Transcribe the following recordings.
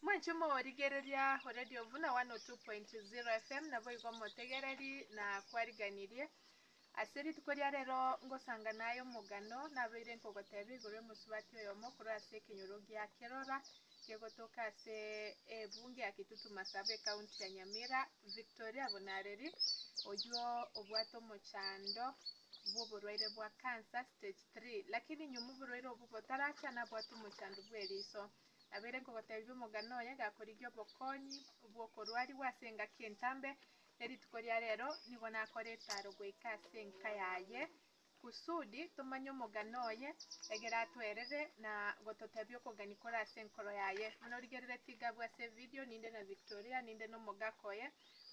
Mwanche moorigereria Radio Vuna 102.0 FM, naboigo motegereri na kwariganirie. Ase rituko ria rero ngosangana aye omogano nabeire nkogotebia igoro y'omosubati oyomo korwa ase ekenyoro gia Kerora kegotoka ase ebunge ya Kitutu Masaba ekaunti ya Nyamira, Victoria Bunareri, oyio obwate omochando bw'oborwaire bwa cancer stage 3 Lakini inwe moborwaire obwo botaracha nabwate omochandu bwe riso, nabeire nkogotebia omogano oye gakorigia obokonyi bw'okorwarigwa ase engaki entambe, ne rituko ria rero nigo nakore etaro goika ase enka yaye, kusudi tomanye omogano oye, egere atwerere na gototebia okogania kore ase enkoro yaye. Buna origerere tigabwa ase evideo, ninde na Victoria, ninde na omogaka oye,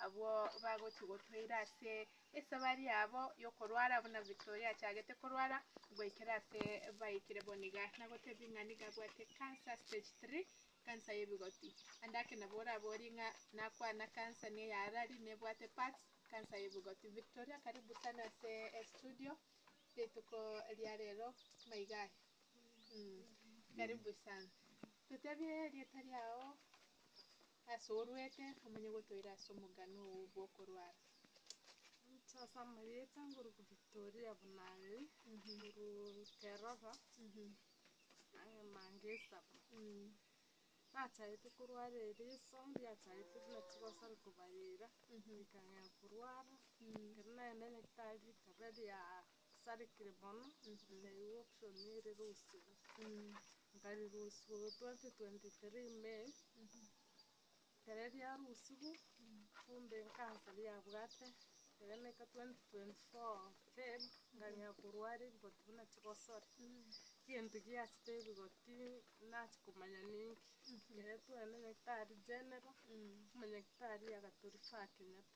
abwo bagochia gotoira ase. Esabari yabo y'okorwara buna Victoria achagete korwara goikera ase baikire bo niga nagotebie ng'a niga abwate cancer stage three, cancer y'ebigoti. Ande ake nabo oraborie ng'a nakwana cancer niga yarari nebwate parts, cancer y'ebigoti. Victoria karibu sana ase estudio rituko ria rero buna iga aye. Karibu sana. Totebie erieta riao. Ase oruete omonye gotoira ase omogano oo bw'okorwara. Gocha ase amarieta ngoruke Victoria buna aria, ngoruke Roba, nang'e mange esaba. Nachagete korwara eriso riachagete buna chigosari kobarera, rikang'ea korwara, ekero nagenda nyagetari rikaba ria. Asarikire mono, naigwa oksoni ere erusiwa, nkarirusiwa 2023 May, ere riarusiwu kumbe ekansa riabwate ere naika 2024 Feb nkang'ea korwara ebigoti buna chigosori, egento giachete ebigoti nachi komanya ninki, ere twagenda nyagetari general, omonyagetari agatoria Sir Kenyatta.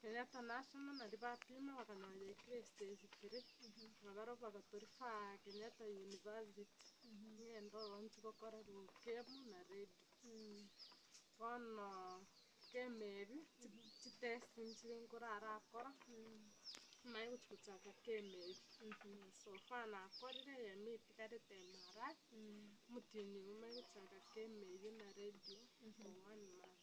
Kenyatta National naria bapima bakanyora ya Christ esikire na barobwo bagatori faa Kenyatta University ngende ororo nchi gokora rukemu na radio bono kemeri chi test nchire nkoro arakora naye gochi gochaka kemeri so far nakorire eyemo etigarete MRI omotienyi oye omanye gochaka kemeri na radio for one month.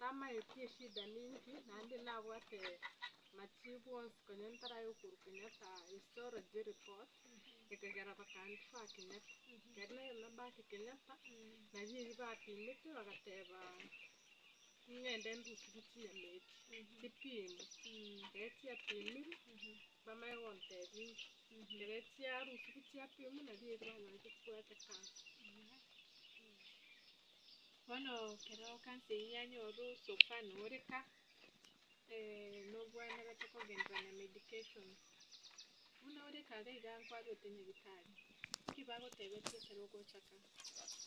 Tamaeti eshida ninki, naende nabwate machibu onsi konya ntaraya okorwa Kenyatta histology report ekagera bakandi ba Kenyatta ekero nayomia back Kenyatta nabio ebi bapimete bagateba ningende ndusubie chinyama ebi chipimwe ekero chiapimirwe bamanye gontebia inche ekero chiarusiwa chiapimwa nabio ebi banyorete chibwate cancer. Bono ekero kansa eyio yanyorwa osopa noreka, nobwenerete kogenderera na medication. Buna oreka iga iga nkwarwete nyagitari, ki bagotebetie ekero ogochaka,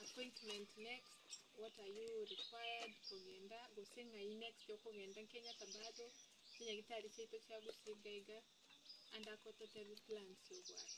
appointment next, what are you required kogenda, gose ng'ai next okogenda, kenya ase bado chinyagitari chiaito chiagosiga iga, ande akototebi plans obwate.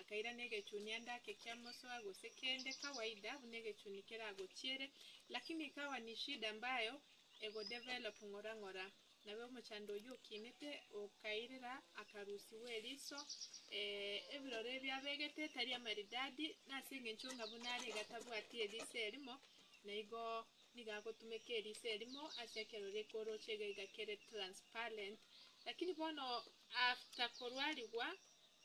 Akairana egechuni ande ake kia mosoa gose kende kawaida buna egechuni keragochiere lakini ikawa ni shida ambayo egodevelop ng'ora ng'ora nabo omochando oyio okinete okairera akarusi bweriso eeh ebiroro ebio abegete etari amaridadi nase eng'encho ng'a buna are iga tabwati eriso erimo naigo nigo agotumeka eriso erimo ase ekero rekoroche iga iga kere transparent lakini bono after korwarigwa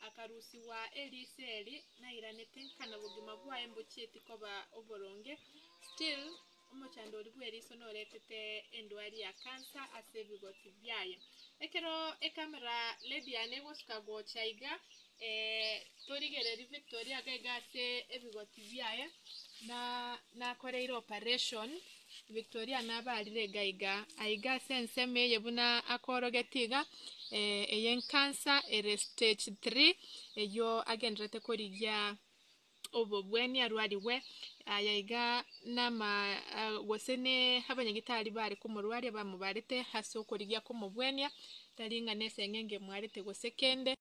akarusigwa erio Isiraeli nairanete nkana bogima bwaye mbochieti koba oboronge, still omochandori bweriso noretete endwari ya cancer ase ebigoti biaye. Ekero ecamera lady yane egosuka gocha iga eh, torigereri Victoria iga iga ase ebigoti biaye na nakoreire operation Victoria nabaarire iga iga, aiga ase ensemo eye buna akoorogetie iga, ey'enkansa ere stage three, eyio agendererete korigia obobwenia arwarigwe, aye iga nama gose ne abanyagitari bare komorwaria bamobarete ase okorigia komobwenia, tari ng'a neseng'enge emwarete gose kende.